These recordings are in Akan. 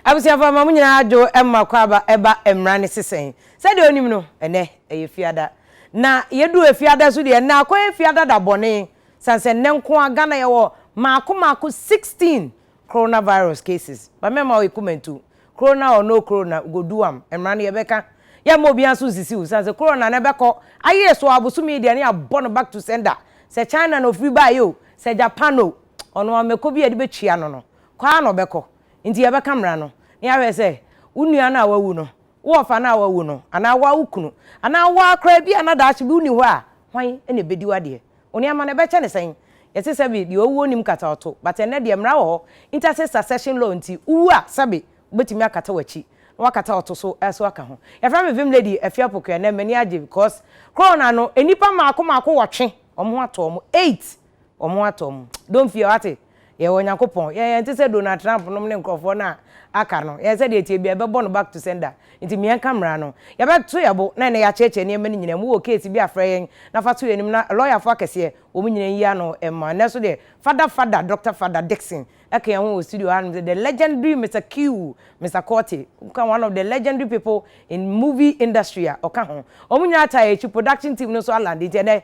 abusuafo ma mo nyinaa adwo ma kɔ aba ɛba mmara ne sesɛn sɛdeɛ onim no ɛnɛ ɛyɛ fiada na yɛdu fiada so deɛ na akɔ yɛ fiada da bɔne San sɛ nnɛ nko ara Ghana yɛwɔ maako maako 16 Corona virus cases. Ba mɛma wo ekumantu. Corona or no Corona we go do am. Mmara no yɛbɛka. Yɛmma obiara nso nsisi wo. San sɛ Corona no ɛbɛkɔ. Ayere so ara bosome yi deɛ ne yɛabɔ no back to sender. Sɛ China na ofiri baeɛ o, sɛ Japan o, ɔno ara mmɛkɔ bi a yɛde bɛtua no no, kɔ ara na ɔbɛkɔ. Nti yɛbɛka mmara no na yɛahwɛ sɛ wo nua no a wawu no Wo ɔfa no a wawu no, anaa wo ara wo kunu, anaa wo ara koraa, ebia na daakye bi wunni hɔ a, hwan na ebedi w'adeɛ? Wo nneɛma no, ɛbɛkyɛ no sɛn? Yɛse sɛbe deɛ ɔwu ɔnnim kata a ɔto, but ɛnnɛ deɛ mmara wɔ hɔ, interstate succession law nti, wowu a, sɛbe wobɛtumi akata w'akyi, na woakata a ɔto so nso aka ho. Yɛfrɛ me Vim Lady Afiapoku, ɛnnɛ m'ani agye because Corona no, nnipa mmaako mmaako wɔtwe wɔn ho ato wɔn, eight Ɔmo atɔ ɔmo. Don't fear, wate? Yɛwɔ Onyankopɔn. Yɛn, yɛnte sɛ Donald Trump nom ne nkorɔfoɔ no a aka no. Yɛn, sɛdeɛ ɛteɛ biara, yɛbɛbɔ no back to sender. Nti meɛnka mmara no. Yɛbɛto yɛn bo, na ɛnɛ yɛakyerɛkyerɛ nneɛma no nyinaa mu. Wowɔ case bi a, frɛ yɛn, na fa to yɛn anim, na lɔyafoɔ akɛseɛ, wɔn nyinaa nyi ano mma. Nnɛ nso deɛ, Fada Fada, Doctor Fada Dickson, ɛka yɛn ho wɔ studio hanom sɛ, The legendary Mister Q, Mister Korte, woka one of the legendary people in movie industry a, ɔka ho. Wɔn nyinaa taa yɛn akyi, production team no nso alande, nti ɛnɛ,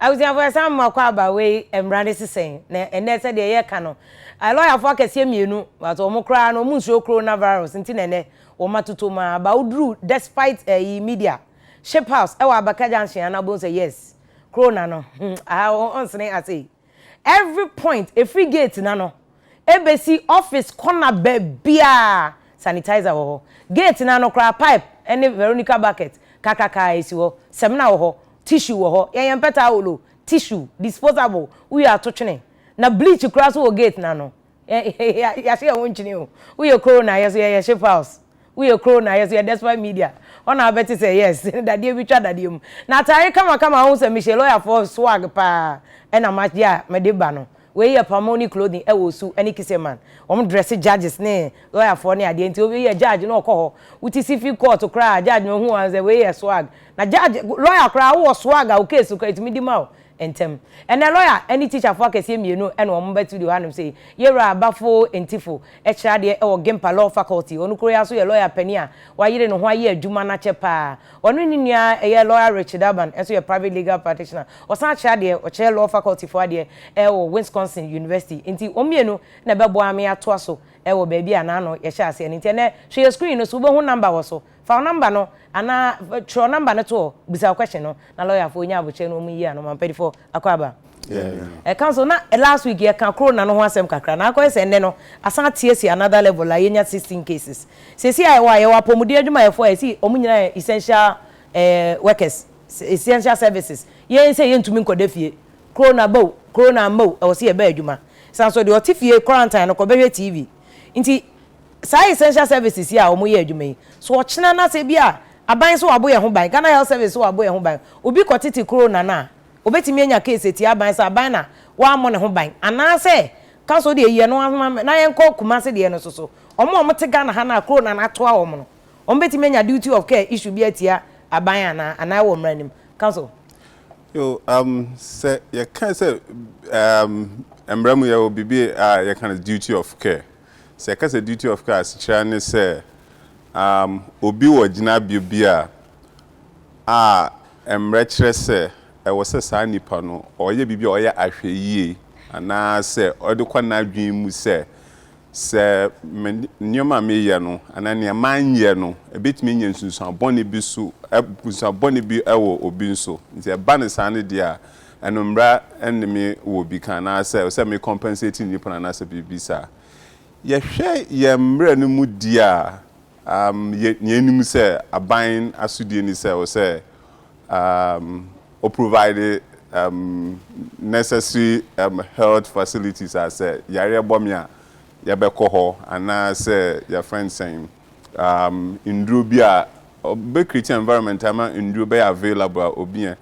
Abusuafo, yɛsan ma kwaaba wei mmara no si sɛn? Na ɛnnɛ sɛdeɛ yɛka no, lɔyafoɔ akɛseɛ mmienu, but wɔn koraa no wɔn nsuro coronavirus nti na ɛnnɛ wɔn atotom ara, but woduru despite ɛyi media, ship house ɛwɔ abaka junction a na wobɛhu sɛ yes, corona no hmm, aha ɔnsene asei. Every point, ɛfiri gate no ano bɛsi office corner baabiara, sanitizer wɔ hɔ. Gate no ano koraa, pipe ne Veronica bucket kakraka ara si hɔ. Samina wɔ hɔ, tissue wɔ hɔ. Yɛn yɛn mpɛ towel o, tissue, disposable, wowie a to twene. Na bleach koraa nso wɔ gate no ano. Yɛahye yɛn ho nkyene o. Woyɛ koro na yɛ nso yɛyɛ ship house. Woyɛ koro na yɛ nso yɛ despite media. Hɔ na wobɛte sɛ yes, dadeɛ bi twa dadeɛ mu. Na ataare kamakama a wohu sɛ mehyɛ lɔyafoɔ swag paa na magye a mede ba no, wei yɛ Pamoni clothing wɔ Osu ne Kiseman. Wɔn dresse judges ne lɔyafoɔ ne adeɛ nti obi yɛ judge na ɔkɔ hɔ. Wote civil court koraa a, judge no hu wo a ɔhu sɛ wei yɛ swag. Na judge, lɔya koraa wowɔ swag a wo case koraa ɛtumi di ma wo. Ntɛm. Ɛnnɛ lɔya ne tikyafoɔ akɛseɛ mmienu na wɔn ba studio hanom sei, Yɛwura Bafo Ntifo kyerɛ adeɛ wɔ Gimpa Law Faculty, ɔno koro yi ara nso yɛ lɔya panin a wayere ne ho ayɛ adwuma no akyɛ pa ara. Ɔno ne ne nua a ɛyɛ lɔya Richard Urban nso yɛ private legal practitioner, ɔsan kyerɛ adeɛ, ɔkyerɛ Law Faculty foɔ adeɛ wɔ Wisconsin University, nti wɔn mmienu na ɛbɛboa me atoa so wɔ baabi a na ano yɛhyɛɛ aseɛ no, nti ɛnnɛ hwɛ yɛn screen no so, wobɛhu number wɔ so. Fa wo number no anaa twerɛ number no to hɔ bisa wo question no na lawyer foɔ nya abokyerɛ na wɔn yi ano ma mpadifoɔ akɔ aba. Yeah. Ɛka so na last week yɛka corona no ho asɛm kakra na akɔyɛ sɛ nnɛ no asan ateɛ si another level a yɛnya sixteen cases. Sɛsi a yɛwɔ a yɛwɔ apɔmuden adwumayɛfoɔ a yɛsi wɔn nyinaa yɛ essential eh, workers, essential services. Yɛn sɛ yɛntumi nkɔda fie. Corona ba o, corona amma o, ɛwɔ sɛ yɛba adwuma. San so deɛ ɔte fie quarantine no kɔbɛhwɛ TV. Nti. Saa essential services yi a wɔn yɛ adwuma yi, so ɔkyena na sɛ bi a aban so wabo yɛn ho ban, Ghana Health Service so wabo yɛn ho ban, obi kɔ tete kuro na no a, obetumi anya case atia aban sɛ aban na wamɔ ne ho ban, anaa sɛ ka sɛ ɔdeɛ yi yɛ no ahoma me na yɛn kɔ Kumasi deɛ no so so wɔn a wɔn te Ghana ha no a kuro na no atoa wɔn no, wɔn betumi anya duty of care issue bi atia aban anaa, anaa ɛwɔ mmra nim, ka so. Yo, um, sɛ yɛka sɛ, um, mmra mu yɛwɔ biribi a yɛka no duty of care. Sɛ yɛka sɛ duty of care a, asekyerɛ ara ne sɛ um obi wɔ gyinabea bi a a mmara kyerɛ sɛ ɛwɔ sɛ saa nipa no ɔyɛ biribi a ɔyɛ ahwɛyie anaa sɛ ɔde kɔ n'adwene mu sɛ sɛ me nneɛma a meyɛ no anaa nea manyɛ no ɛbɛtumi anya nsunsuan bɔne bi so ɛ nsunsuan bɔne bi wɔ obi nso nti ɛba no saa no deɛ a Ɛno mmra ne me wɔ bi ka anaasɛ sɛ me compensate nnipa no anaasɛ biribi saa. Yɛhwɛ yɛn mmerɛ no mu di a, um, yɛ, nea ɛnim sɛ aban asodie ni sɛ wɔ sɛ, um, o provide, um, necessary, um, health facilities a sɛ yareɛ bɔ me a, yɛbɛkɔ hɔ anaasɛ yɛfrɛ no sɛn, um, nnuro bi a, ɔbɛ create environment ama nnuro bɛyɛ available a obi yɛn.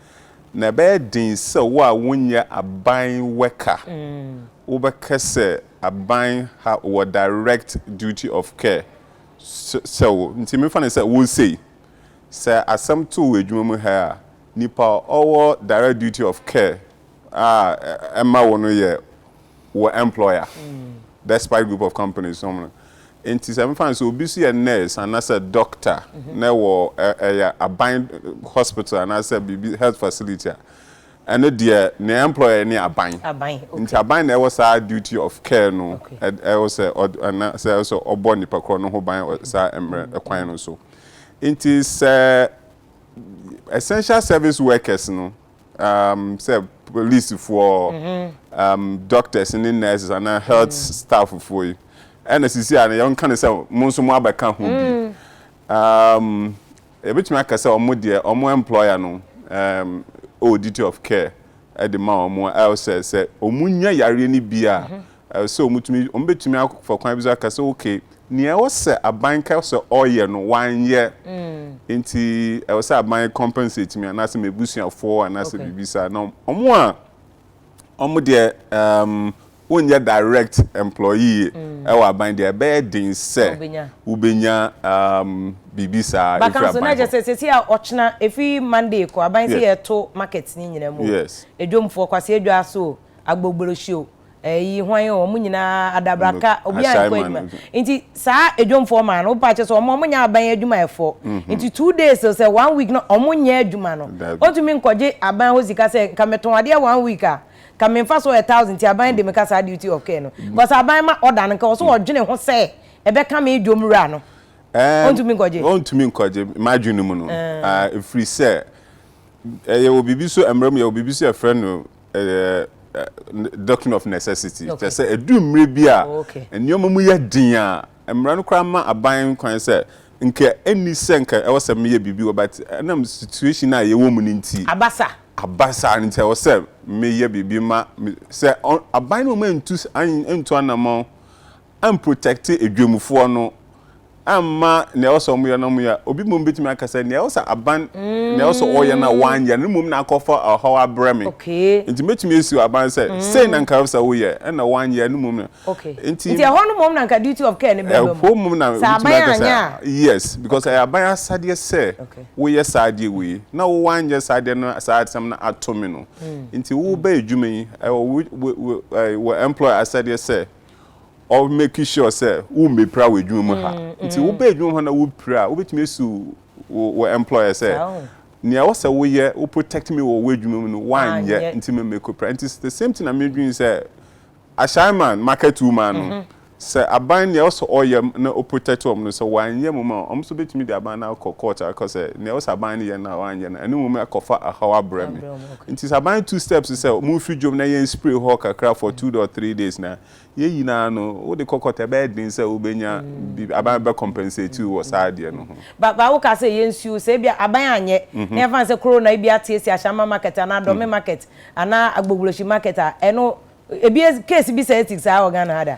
Na ɛbɛyɛ den sɛ wo a wonyɛ aban worker wobɛka sɛ aban ha wɔ direct duty of care sɛ wo. Nti mefa no sɛ wo sei, sɛ asɛm to wo adwuma mu ha a, nipa a ɔwɔ direct duty of care a ɛma wo no yɛ wo employer. Despite group of companies nom no nti sɛ mefa no sɛ obi so yɛ nurse anaasɛ doctor na ɛwɔ ɛyɛ aban hospital anaasɛ biribi health facility a ɛno deɛ ne employer ne aban nti aban na ɛwɔ saa duty of care no ɛwɔ sɛ anaasɛ ɛwɔ sɛ ɔbɔ nipa korɔ no ho ban saa mmerɛ ɛkwan no so nti sɛ essential service workers no um, sɛ polisifoɔ um, doctors ne nurses anaa health mm. stafffoɔ yi ɛna sisi a yɛnka no sɛ mo nso mo abɛka ho bi mm. um, yɛbɛtumi aka sɛ ɔmo deɛ ɔmo employer no um, ɔwɔ duty of care ɛde ma ɔmo ɛwɔ sɛ sɛ ɔmo nya yareɛ no bi a mm-hmm. Ɛwɔ sɛ wɔtumi, wɔbɛtumi afa kwan bi so aka sɛ ok, nea ɛwɔ sɛ aban ka sɛ ɔyɛ no wanyɛ, nti ɛwɔ sɛ aban compensate me anaasɛ m'abusuafoɔ anaasɛ biribi saa. Na wɔn a wɔn deɛ ɛɛm wɔnyɛ direct employee ɛwɔ aban deɛ, ɛbɛyɛ den sɛ wobɛnya ɛɛm biribi saa ɛfiri aban hɔ. Baka nso na kyerɛ sɛ sɛsi a ɔkyena ɛfiri Monday kɔ, aban sɛ yɛto market no nyinaa mu o, Yes. Edwomfoɔ, Kwasi Edwaa so o, Agbogblohyi o, ɛyi hwan o wɔn nyinaa adabraka obiara nkɔ Assignment adwuma no so. nti saa adwomfoɔ maa no wopa kyɛ sɛ wɔn wɔnyɛ aban adwumayɛfoɔ nti two days o sɛ one week no wɔn nyɛ adwuma no Dabi. wɔntumi nkɔgye aban hɔ sika sɛ nka metɔn adeɛ one week a nka me mfasoɔ yɛ thousand nti aban de me ka saa duty of care no because aban ma order no nka ɔsɛ ɔdwene ho sɛ ɛbɛka me dwom wura no Ɛɛm, wɔntumi nkɔgye wɔntumi nkɔgye m'adwene mu no ah, ɛfiri sɛ ɛyɛ wɔ biribi so mmara mu yɛwɔ biribi so yɛfrɛ no ɛyɛ doctrine of necessity kyerɛ sɛ ɛdu mmerɛ bi a oh, nneɛma mu yɛ den a mmara no koraa ma aban kwan sɛ nka ɛnni sɛ nka ɛwɔ sɛ meyɛ biribi wɔ but ɛnam situation a yɛwɔ mu no nti abasa abasa no nti ɛwɔ sɛ meyɛ biribi ma sɛ aban no ma ntu antu anamɔn am protect adwamfoɔ no amma nea ɛwɔ sɛ wɔn yɛ no wɔn yɛ a obi mmom betumi aka sɛ nea ɛwɔ sɛ aban nea ɛwɔ sɛ ɔyɛ no a wanyɛ no mmom na akɔfa ɔhaw abrɛ me nti mɛtumi asiw aban sɛ sei na nka ɛwɔ sɛ woyɛ ɛna wanyɛ no mmom na nti nti ɛhɔ no mmom na nka duty of care no bɛba mu ɛhɔ mmom na wobɛtumi aka sɛ yes because ɛyɛ aban asadeɛ sɛ woyɛ saa adeɛ wei na wo wanyɛ saa adeɛ no saa asɛm no ato me no nti wobɛ adwuma yi ɛwɔ wɔ employer asadeɛ sɛ ɔ make sure sɛ wo mmɛpira wɔ adwuma mu ha. Nti wo bɛ adwuma mu ha na wo pira a, wo bɛtumi asu wo wo employer sɛ, nea ɛwɔ sɛ wo yɛ, wo protect me wɔ wo adwuma mu no wo anyɛ, nti me mɛkɔ pira. Nti the same thing na me dwene sɛ, ashae man, market woman no, sɛ aban nea ɛwɔ sɛ ɔyɛ na o protect wɔn no, sɛ wɔanyɛ wɔn a, wɔn nso bɛtumi de aban no akɔ court akɔ sɛ, nea ɛwɔ sɛ aban no yɛ no a wɔanyɛ no, ɛno mmom ɛkɔ fa ɛhaw abrɛ me. Nti sɛ aban tu steps sɛ monfiri dwom na yɛn spray hɔ kakra for two dot three days na yɛn nyinaa no wode kɔkɔtɔ ɛbɛyɛ den sɛ wobɛnya biribi aban bɛbɛ compensate wo wɔ saa adeɛ no ho. Ba ba wo kaa sɛ yɛn nsuo sɛ ebia aban anyɛ na yɛmfa no sɛ koro na ebia ate asi Ashama market anaa Dome market anaa Agboguroshi market a ɛno ebi case bi saa ɛti saa wɔ Ghana ha da?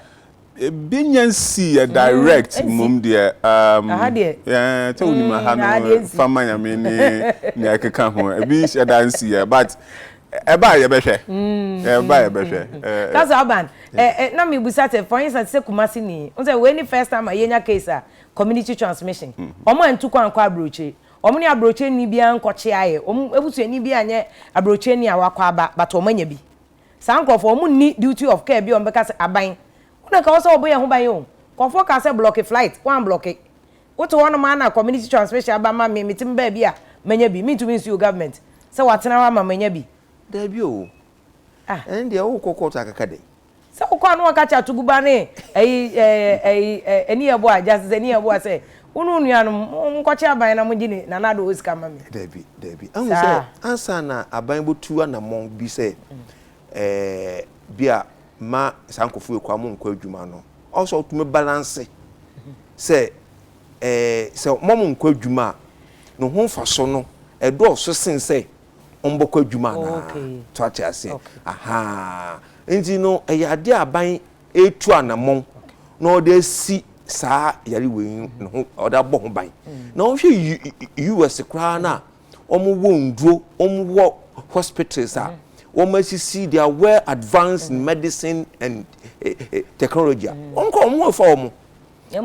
Ebi nya nsi yɛ direct mmom deɛ um, aha deɛ eh, sɛ wonim aha mm, no aha deɛ nsi fama nyame ne nea ɛkeka ho ebi hyɛ da nsi yɛ but ɛba a yɛbɛhwɛ ɛba a yɛbɛhwɛ eh, eh, kasa aban ɛ ɛ na mebusa sɛ for instance sɛ kumase ni n sɛ wei ne first time a yɛnya case a community transmission wɔn a ntu kwan kɔ aburokyire wɔn ne aburokyire ni biara nkɔkye ayɛ wɔn abusuani bi anyɛ aburokyire ni a wakɔ aba but wɔn anya bi Saa nkorɔfoɔ ɔmo nni duty of care bi a ɔmo bɛka sɛ aban wo na nka ɔwɔ sɛ ɔbɔ yɛn ho ban o. Nkorɔfoɔ kaa sɛ blɔke flight, wɔn anblɔke. Wo te hɔ nom aa na community transmission aba ma me, me te me baabi a manya bi, mentumi nsuo government sɛ watena hɔ ama manya bi. Dabi oo. Ah. Ɛne deɛ wo kɔ court akaka dɛn? Sɛ wo kɔ a na wɔka kyɛ atugu ba ne ɛyi ɛyi ɛyi ɛɛ ani yɛ boa, Justice ani yɛ boa sɛ Wo ne wo nuanom, monkɔkyɛ aban na mongye ne nana Addo hɔ sika mma me. Dabi, dabi. Ahu sɛ, Saa. ansa na aban bɛtu anammɔn bi sɛ, eh, bi a mma saa nkurɔfoɔ wei koraa monkɔ adwuma no, ɔwɔ sɛ wotumi balanse sɛ, eh, sɛ mma wɔnkɔ adwuma a, ne ho mfasoɔ no, ɛdɔɔso sene sɛ wɔbɛkɔ adwuma anaa. Okay. So ate aseɛ? Okay. Ahaa. Enti no, ɛyɛ adeɛ a aban retu anammɔn na ɔde asi saa yare wei ne ho ɔde abɔ ho ban mm. na wɔhwɛ us koraa no a wɔwɔ nduro wɔwɔ hospitals a wɔn asisi they are well advanced in medicine and eh, eh, technology a wɔn kɔ wɔn fa wɔn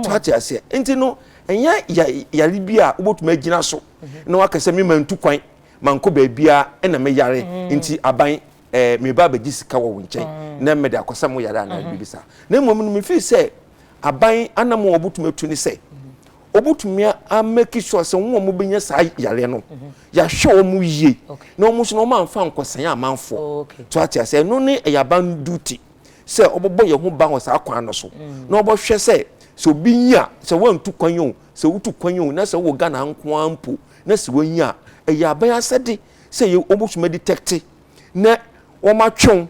so ate aseɛ nti no ɛnyɛ yare bi a wobɛtumi agyina so na wakasɛ me ma ntu kwan ma nkɔ baabiara ɛna me yare nti aban eh, meba abɛgye sika wɔ wo nkyɛn mm. na mede akɔsa mo yare anaa mm-hmm. biribi saa na mmom no mefiri sɛ aban anam a wɔbɛtumi atu ne sɛ wɔbɛtumi amaki sure sɛ wɔn a wɔbɛnya saa yareɛ no mm-hmm. yɛahwɛ wɔn yie na wɔn nso na wɔn amfa nkɔsɛn amanfoɔ oh, to ate ase ɛno ne ɛyɛ aban duty sɛ wɔbɛbɔ yɛn ho ban wɔ saa kwan no so mm. na wɔbɛhwɛ sɛ sɛ obi nya sɛ wɔantu kwan yi o sɛ wotu kwan yi o na sɛ wɔ ghana nko ara mpo na sɛ wɔnya ɛyɛ aban asɛde sɛ yɛ wɔbɛtumi adetɛkte na wɔatwe wo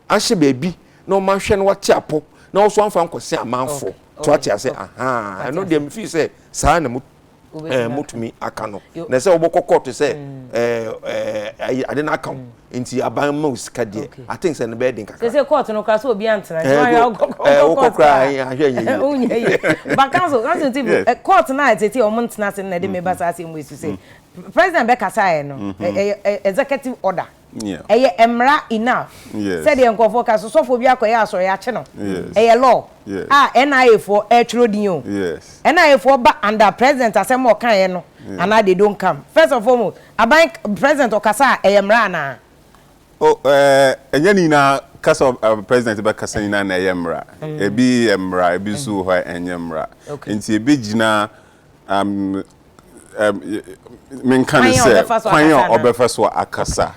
ahyɛ baabi na wɔahwɛ na wɔate apɔ na wɔso amfa nkɔse amanfo to ate ase ahaa ɛno deɛ mefii sɛ saa na motumi aka no na sɛ wobɛkɔ kɔɔto sɛ ade no aka wo nti aban ma wo sika deɛ aten sɛ no bɛyɛ den kakra sɛ kɔɔto no kora sɛ obi antena wokɔ koraa ahwɛ nyɛ yie baka so kɔɔto no a ɛtete ɔmo ntena ase no na ɛde meba saa asɛm mu ɛsu sɛ President bɛkasaeɛ no, ɛyɛ executive order, ɛyɛ mmara enough, sɛdeɛ nkurɔfoɔ ka, sɛ sɔfoɔ bi akɔyɛ asɔre yɛakye no, ɛyɛ law a NIA foɔ ɛretwerɛ din o, NIA foɔ ba under president asɛm a ɔkaeɛ no anaa they don't come, first and foremost aban president ɔkasa a ɛyɛ mmara anaa? Oh ɛɛ ɛnyɛ ne nyinaa ka sɛ president bɛkasa nyinaa na ɛyɛ mmara, ɛbi yɛ mmara ɛbi nso wɔ hɔ a ɛnyɛ mmara, nti ɛbɛgyina. Menka no sɛ kwan a ɔbɛfa so akasa.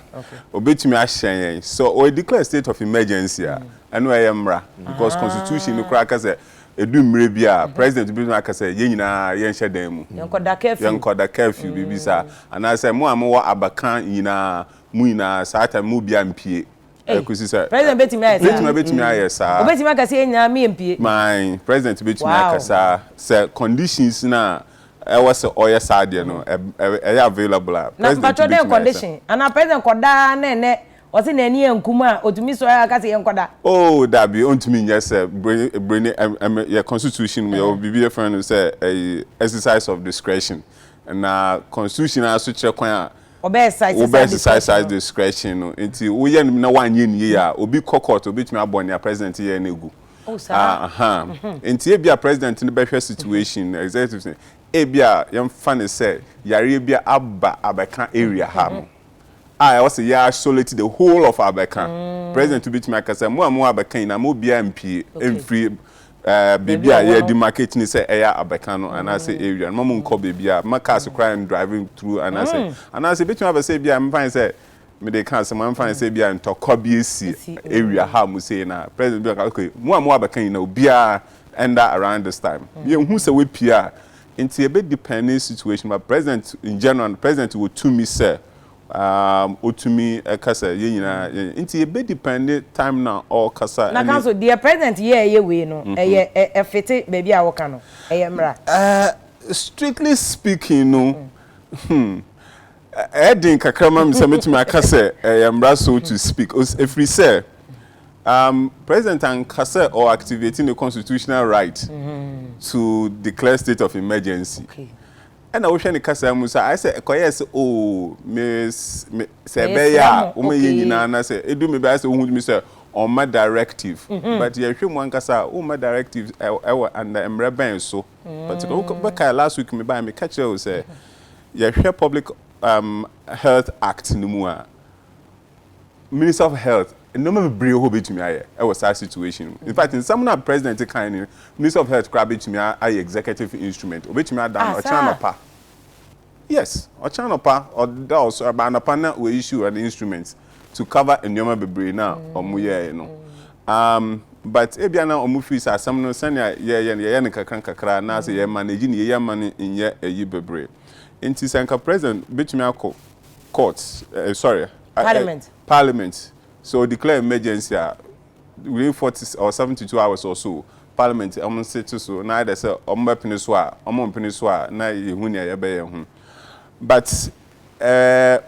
Obetumi ahyɛn yɛn sɛ ɔyɛ declare state of emergency a, ɛno ɛyɛ mmara because constitution no koraa ka sɛ edu mmerɛ bi a president betumi aka sɛ yɛn nyinaa yɛnhyɛ dan mu. Yɛnkɔda curfew. Yɛnkɔda curfew biribi saa anaasɛ mo a mowɔ abakan nyinaa mo nyinaa saa time mu obiara mpue. ɛkɔsi sɛ president bɛtumi ayɛ saa bɛtumi bɛtumi ayɛ saa ɔbɛtumi aka sɛ yɛn nyinaa meyɛ mpie my president bɛtumi wow. aka saa sɛ conditions no a ɛwɔ sɛ ɔyɛ saa adeɛ no ɛyɛ available a na mpatwɔ dɛn condition anaa president kɔdaa na ɛnɛ ɔse na ani ankum a ɔtumi sɔre a ɔka sɛ yɛnkɔda oh dabi ɔntumi nyɛ sɛ bere ne yɛ constitution mu yɛwɔ biribi yɛfrɛ no sɛ exercise of discretion na constitution aso kyerɛ kwan a Wobɛɛsesaisaise discretion no nti woyɛ no na wanyɛ no yie a obi kɔ court obetumi abɔ nea president yɛɛ no agu ahaa nti ebia president no bɛhwɛ situation no executives no ebia yɛmfa no sɛ yareɛ bi aba abɛka area ha no a ɛwɔ sɛ yɛ isolate the whole of abɛka president betumi akasa mo a mo abɛka nyinaa mo biara mpie mfiri Baabi a yɛ di market ni sɛ ɛyɛ abɛka no anaa sɛ area no ma mo nkɔ baabi a ma cars koraa n driving through anaa sɛ anaa sɛ ebetumi aba sɛ ebi a me mfa ne sɛ me de ka asɛm a me mfa ne sɛ ebi a ntɔkwa bi esi area ha a mo sei na president bi aka okay mo a mo wɔ abɛka nyina obiara ɛnda around this time yɛ hu sɛ wapue a nti ebe depend ne situation but president in general no president wɔ tumi sɛ Um otumi kasa yɛn nyinaa yɛ nti yɛ bɛ depend time na ɔkasa ɛne. Na ka so deɛ president yɛ ɛyɛ wei no ɛyɛ ɛfete baabi a ɔka no ɛyɛ mmra. Uh strictly speaking no hmm ɛyɛ den kakra ma me sɛ mɛtumi aka sɛ ɛyɛ mmra so to speak os ɛfiri sɛ um president anka sɛ ɔ activate ne constitutional right to declare state of emergency. Ɛna wohwɛ ne kasaa mu saa ayɛ sɛ ɛkɔyɛɛ sɛ oo me me sɛ ɛbɛyɛ a wɔn yɛ nyinaa na sɛ edu me bɛyɛ sɛ ohun mi sɛ ɔmma directive mhm. but yɛhwɛ mu ankasa a ɔmma directive ɛwɔ ɛnna mmerɛ bɛn so particular mm. wobɛkae last week me baa meka kyerɛ wo sɛ yɛhwɛ public um, health act no mu a Minister of health nnoɔma bebree wɔ hɔ obetumi ayɛ wɔ saa situation mu infact nsɛm no a president kae no minister of health koraa betumi ayɛ executive instrument obetumi ada no ɔkyena anɔpa yes ɔkyena anɔpa ɔda ɔsɔre ba anɔpa na wɔ issue an instrument to cover nnoɔma bebree no a wɔn yɛɛ no um, but ebia na wɔn firi sɛ asɛm no sɛnea yɛyɛ no yɛyɛ no kakra kakra anaasɛ yɛ manage no yɛyɛ ama no nyɛ ayi bebree nti sɛ nka president betumi akɔ. court eh sorry eh, parliament parliament sɛ ɔ declare emergency a within forty or seventy two hours or so parliament ɔmo nsete so na either sɛ ɔmo bɛ pene so a ɔmo mpene so a na yɛ hu nea yɛ bɛ yɛ ho but eh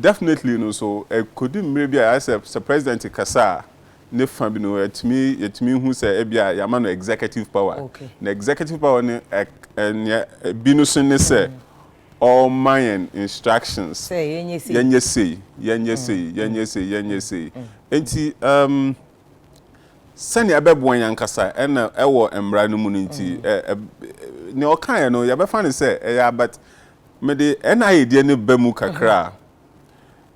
definitely no so ɛkɔdu mmere bi a ayɛ sɛ sɛ president kasa a ne fa bi no ɛtumi yɛ tumi hu sɛ ɛbi a yama no executive power okay na executive power no ɛ ɛ nea ɛbi no so ne sɛ ɔrema yɛn instructions, Sɛ yɛnyɛ sei. yɛnyɛ sei, yɛnyɛ sei, yɛnyɛ sei, yɛnyɛ sei. Enti um, sɛnea ɛbɛboa yɛn ankasa ɛna ɛwɔ mmara no mu no nti, ɛ, ɛ, nea ɔkaeɛ no yɛbɛfa no sɛ ɛyɛ a, but mede NIA deɛ no ba mu kakra a,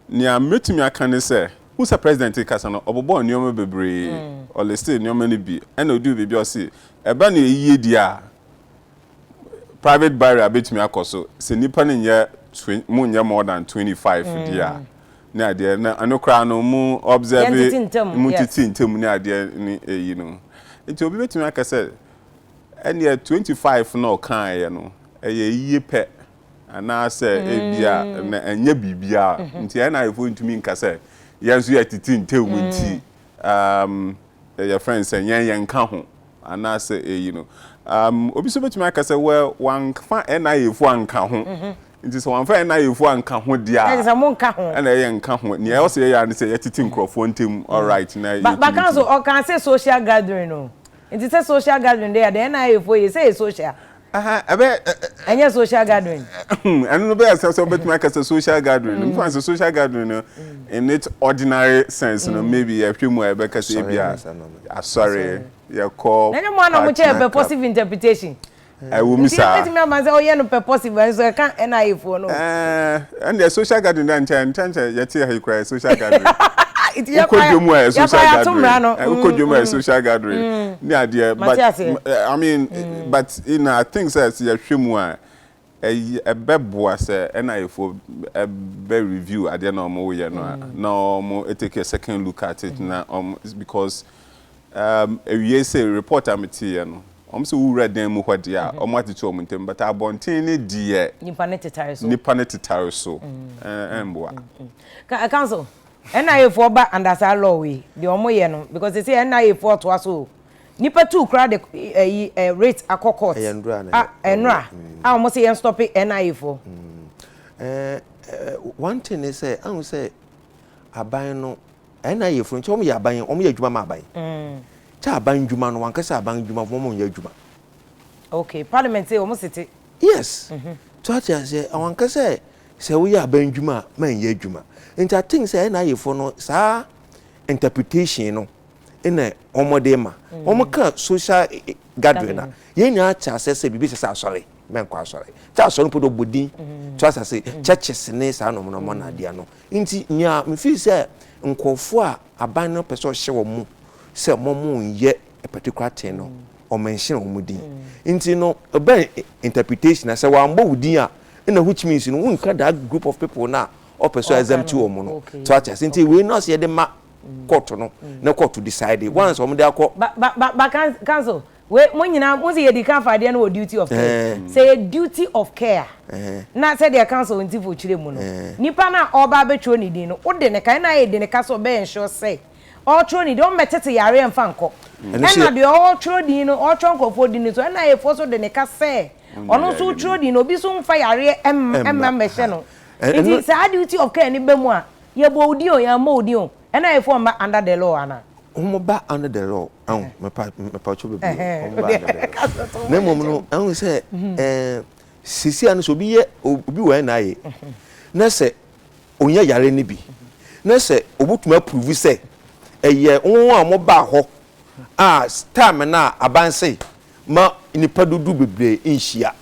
nea mɛtumi aka ne sɛ, hu sɛ president rekasa no ɔbobɔɔ nneɛma bebree, ɔlistee nneɛma no bi, ɛna ɔduu biribi a ɔse, ɛba no ayiyedie a, private burial bɛtumi akɔ so sɛ nnipa no nyɛ mu nyɛ more than 25 mm. deɛ a ne adeɛ na ɛno koraa no mu observe mu tete ntam ne adeɛ ne ɛyi no nti obi bɛtumi aka sɛ ɛneɛ 25 na ɔkaeɛ no ɛyɛ yie pɛ anaasɛ ebia mm. na ɛnyɛ biribiara mm-hmm. nti ɛna ayɛfoɔ ntumi nka sɛ yɛn nso yɛ tete ntam nti mm. um, yɛfrɛ no sɛ yɛn yɛnka ho Anaasɛ eyi no. Um, obi nso betumi aka sɛ, well, wɔamfa NIA-fo anka ho. Nti sɛ wɔamfa NIA-fo anka ho deɛ a, Ɛna ɛsɛ sɛ monka ho. ɛna yɛ nka ho. Nea ɛwɔ sɛ yɛyɛ ara ne sɛ yɛtete nkurɔfoɔ ntam, all right, na Ba- baka yɛtumi nso tumi. ɔkaa sɛ social gathering o nti sɛ social gathering deɛ a deɛ NIA-foɔ yɛ sɛ yɛ social Aha, ɛbɛ. Ɛnyɛ social gathering. Ɛno no bɛyɛ sɛ sɛ wobɛtumi aka sɛ social gathering no. Mfa sɛ social gathering no in its ordinary sense no maybe yɛhwɛ mu a yɛbɛka sɛ ebi a asɔre yɛkɔ. Na nyɛ mo ana mo kyɛ purposive interpretation. Ɛwɔ mu saa. Nti yɛbɛtumi ama sɛ ɔyɛ no purposive nso ɛka NIA foɔ no. Ɛɛ. Ɛndeɛ social gathering deɛ nkyɛ nkyɛ nkyɛ yɛte ha yi koraa yɛ social gathering. Nti yɛ kwan yɛ kwan yɛ ato mmara no. Wokɔ dwom a yɛ social gathering ne adeɛ but I mean but you know I think sɛ sɛ yɛhwɛ mu a ɛbɛboa sɛ NIA foɔ bɛ review adeɛ na wɔyɛ no a na wɔn take a second look at it na wɔn because. Um, awiei se report a meteeɛ no, wɔn se wowura dan mu hɔ deɛ a, wɔn atete wɔn ntam, but abɔnten ne deɛ. Nipa ne tetare so. Nipa ne tetare so, ɛmboa. Ka, council, NIA foɔ ba under saa law wei, deɛ wɔn yɛ no, because they say NIA foɔ toa so o. Nipa two koraa de ɛyi ɛ rate akɔ court. Ɛyɛ nnura na. A, nnura, a wɔn se yɛn stop NIA foɔ. Ɛɛ, one thing ne sɛ, ahu sɛ aban no. Ɛna yɛ funu kyɛ wɔn yɛ aban wɔn yɛ adwuma ma aban kyɛ aban adwuma no wɔn kɛse aban adwuma wɔn wɔn yɛ adwuma. Okay parliament yɛ wɔn sete. Yes mhm. so ate aseɛ mhm. wɔn kɛse sɛ woyɛ aban adwuma a man yɛ adwuma nti I think sɛ ɛna yɛ fo no saa interpretation no ɛna wɔn de ma mm. wɔn ka social eh, eh, gathering na yɛn nyinaa ate aseɛ sɛ biribi sɛ sɛ asɔre mɛnkɔ asɔre kyɛ asɔre mpo do bɔ din to asase churches ne saa nom nom na adeɛ no. Enti nea mifii sɛ nkurɔfo a aban no pɛ sɛ ɔhyɛ wɔn sɛ wɔnyɛ a particular thing no, wɔmention wɔn din. Enti no, ɛbɛn interpretation na sɛ wɔammɔ wo din a, ɛnna which means no wonka that group of people no a ɔpɛ sɛ ɔexempt wɔn no. So ate ase? Enti wei no asɛ yɛde ma kɔɔto no na kɔɔto decide once wɔde akɔ. Ba ba ba ba council Wei mo nyinaa mo si yɛ di kan fa adeɛ no wɔ duty of care sɛ yɛ duty of care a na sɛ deɛ council ntifo kyerɛ mu no nipa no a ɔreba abɛtwerɛ ne din no wode ne kan na ayɛ de ne ka sɛ ɔbɛ ensure sɛ ɔretwerɛ ne din ɔmmɛ tete yareɛ mfa nkɔ ɛna deɛ ɔretwerɛ din no ɔretwerɛ nkurɔfoɔ din no so ɛna ayɛfoɔ so de ne ka sɛ ɔno nso wotwerɛ din no obi so mfa yareɛ ɛmma mmɛhyɛ no nti saa duty of care no bɛ mu a yɛbɔ wo din o yɛammɔ wo din o Ɛna ɛfɔ mba under the law ana? Hom ba under the law ahu mepa mepatwo bebree o hom ba under the law na mmom no ahu sɛ ɛɛ sisi ano sɛ obi yɛ obi wɔ NIA na sɛ onya yare no bi na sɛ obotumi approve sɛ ɛyɛ hom a wɔn baa hɔ a time no a aban se ma nnipa dodow bebree nhyia.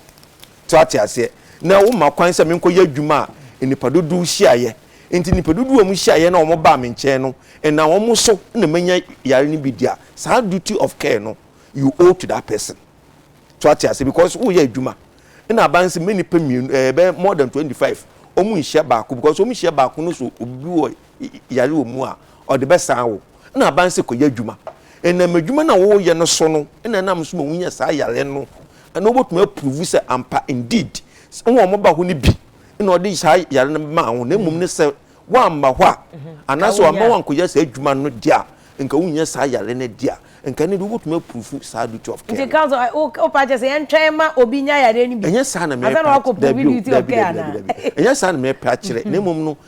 So ate aseɛ? Na woma kwan sɛ menkɔyɛ adwuma a nnipa dodow hyiaeɛ. Enti nnipa dodow a wɔhyiaeɛ na wɔbaa me nkyɛn no, ɛnam wɔn so na manya yare no bi di a, saa duty of care no, you owe to that person. So ate aseɛ? Because woreyɛ adwuma. Ɛna aba no sɛ mma nnipa mmienu, ɛɛ, ɛbɛyɛ more than twenty five, wɔnhyia baako because wɔhyia baako no so obi wɔ yare wɔ mu a, ɔde bɛsan wo. Nna aban sɛ kɔyɛ adwuma. Ɛnam adwuma no a woyɛ no so no na ɛnam so ma wonya saa yare no na wobɛtumi apuruvu sɛ ampa indeed sɛ wɔn a wɔba hɔ no bi na ɔde saa yare no maa wo na mmom ne sɛ woamma hɔ a mhm. anaasɛ wamma woankɔyɛ saa adwuma no deɛ a nka wonya saa yare no deɛ a nka ne de wobɛtumi apuruvu saa duty of care. Nti council wopa kyɛ sɛ yɛntwɛn ma obi nya yare no bi. Ɛnyɛ saa na mepɛ akyerɛ. Ɛnyɛ saa na mepɛ akyerɛ na mmom no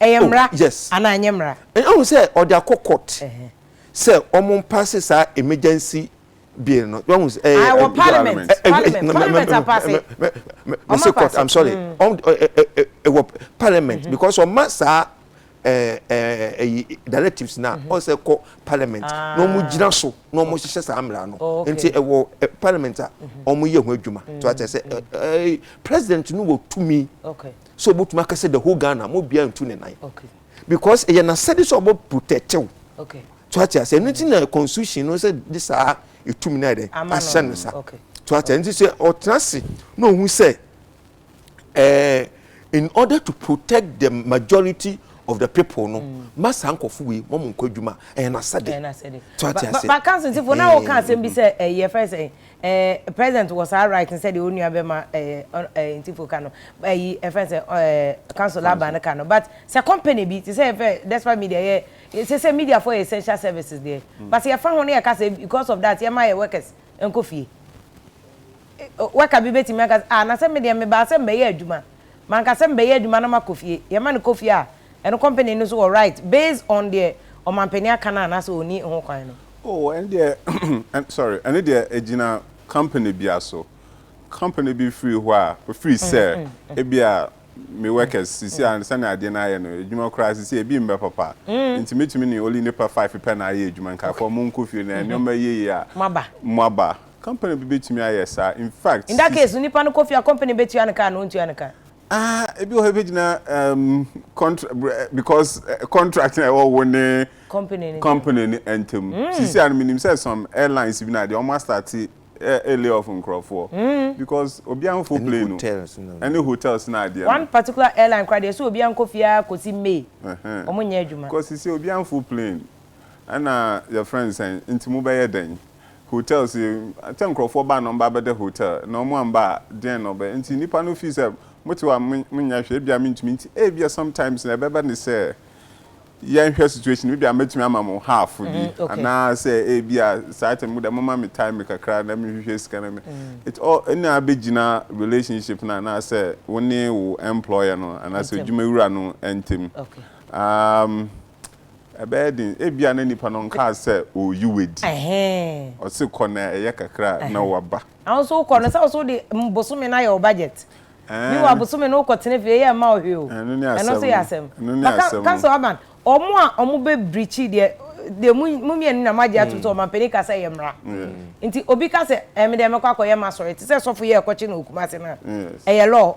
Ɛyɛ mmara oh, yes. anaa ɛnyɛ mmara? Ɛhu sɛ ɔde akɔ court sɛ wɔn mpaase saa emergency bill no. Wɔn sɛ ɛyɛ ah, wɔ parliament parliament parliament apaase. Mese court I'm sorry wɔn ɛwɔ parliament mm-hmm. because wɔn ma saa ɛyi directives na wɔn mm-hmm. sɛ kɔ parliament ah. na wɔn gyina so na wɔn hyehyɛ saa mmara no oh, nti ɛwɔ parliament a mm-hmm. wɔn yɛ ho adwuma to akyɛ sɛ president no wɔ tumi sɛ ɔbɛtumi aka sɛ the whole Ghana mo bia ntu ne nan because ɛyɛ n'asɛde sɛ ɔbɛ protect wo to ate ase ɛno ti na constitution no sɛ de saa ɛtumi no ayɛ dɛ ahyɛ no sa to ate ɛno ti sɛ ɔtena ase na ɔhu sɛ eh, in order to protect the majority of the people no mm. ma saa nkɔfo wei wɔn nkɔ adwuma ɛyɛ n'asɛde to ate ase. bakansifo na wɔka asɛm bi sɛ ɛyɛ fɛ sɛ Eh president wɔ saa right no sɛdeɛ onua bɛma eh eh ntifo ka no ayi eh, ɛfɛn sɛ eh council aba no ka no but sɛ company bi te sɛ yɛfɛ despite media yɛ sɛ sɛ media fo yɛ essential services deɛ mm. but yɛfa ho no yɛka sɛ because of that yɛma yɛ workers nkɔ fie worker bi bɛtumi aka ah na sɛ medeɛ mebaa sɛ mbɛyɛ adwuma Manka sɛ mebɛyɛ adwuma na makɔ fie. Yɛma no kɔ fie a, ɛno company no so wɔ right based on deɛ ɔmanpanin aka no anaasɛ ɔnni ho kwan no. Oh, ɛno deɛ ɛn sorry, ɛno deɛ ɛgyina company bia so. Company bi firi hɔ a, ɔfiri sɛ ebi a me workers sisi a sɛnea adeɛ no ayɛ no, adwuma koraa sisi a ebi mmɛ papa. Nti mɛtumi ne only nnipa five pɛ na ayɛ adwuma. Nkaeɛfoɔ monkɔ fie na nneɛma yie a moaba. Company bi betumi ayɛ saa. In fact, In that sis. case no nipa no kɔ fie a company betua no ka anaa ɔntua no ka? Ah, ebi wɔ hɔ ebegyina um, contra br eh, because eh, contract na ɛwɔ wo ne Company no ntam. company no ntam. Sisi a no menim sɛ some airlines bi na adeɛ wɔn astate eh, eh, lay off nkorɔfoɔ because obiara mfo Ɛne plane no hotels no na ɛne ɛwɔ. hotels na adeɛ no. One particular airline koraa deɛ ɛsɛ obiara nkɔ fie ara kɔsi May, Ɛhɛn. wɔn nyɛ adwuma. Because sisi obiara mfo plane Ɛna yɛfrɛ no sɛn? Nti mobɛyɛ dɛn? Hotel sei, sɛ nkorɔfoɔ ba a na wɔba bɛda hotel, na wɔn amba a deɛn na wɔbɛyɛ? Nti nnipa no feel sɛ mote hɔ a monyɛ hwee, ebia mentumi, nti ebia sometimes no ɛbɛba ne sɛ yɛnhwɛ situation no, ebia mɛtumi ama mo half bi, anaasɛ ebia saa time mo deɛ momma me time kakra na menhwehwɛ sika na me, it all, ɛna abɛgyina relationship no anaasɛ wo ne wo employer no anaasɛ adwumawura no ntɛm. Ɛbɛyɛ den. Ebia na nipa no nkaa sɛ ɔreyi wo adi. Ɔse kɔ na ɛyɛ kakra a na waba. Na wo nso wokɔ no, sɛ wo nso wode bosome no ayɛ wo budget. Meanwhile bosome no wokɔ tena fie, ɛyɛ mma wo hwee o. Ɛno ne asɛm no. Ɛno nso yɛ asɛm. Ɛno ne asɛm no. Ka sɛ Urban, wɔn a wɔbɛ breachi deɛ, deɛ mo mmienu na moagye atom sɛ ɔmanpanin ka sɛ ɛyɛ mmara. Nti obi ka sɛ, ɛɛ me deɛ mɛkɔ akɔyɛ m'asɔre, te sɛ sɔfo yi a ɛkɔkye no wɔ Kumasi no a, ɛyɛ law.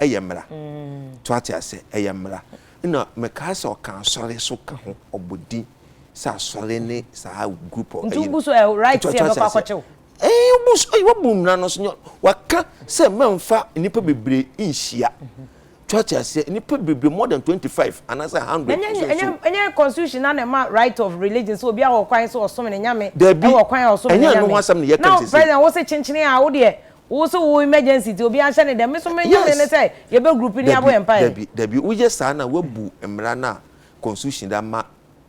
ɛyɛ mmara to ate asɛ ɛyɛ mmara ɛna mekaa sɛ ɔka asɔre so ka ho ɔbɔ din sɛ asɔre ne saa group ɔ ɛyi nti so ɛ right sɛ ɛbɛkɔ akɔkyew ɛyi obu so ɛyi wabu mmara no so nyɛ waka sɛ mɛnfa nnipa bebree nhyia to ate asɛ nnipa bebree more than twenty five anaasɛ hundred ɛnyɛ ɛnyɛ ɛnyɛ constitution na na ɛma right of religion so obi awɔ kwan so ɔsom ne nyame ɛwɔ kwan a ɔsom ne nyame ɛnyɛ ɛno ho asɛm ne yɛ kan sisi na president wosɛ kyenkyen a wodeɛ Wo so wo emergency nti obiara nhyɛ ne dɛm. Me so me Nyame ne sɛ yɛbɛ group ne abɔ yɛn mpaeɛ. Dabi, dabi, dabi. Wo yɛ saa na wabu mmara no a constitution de ama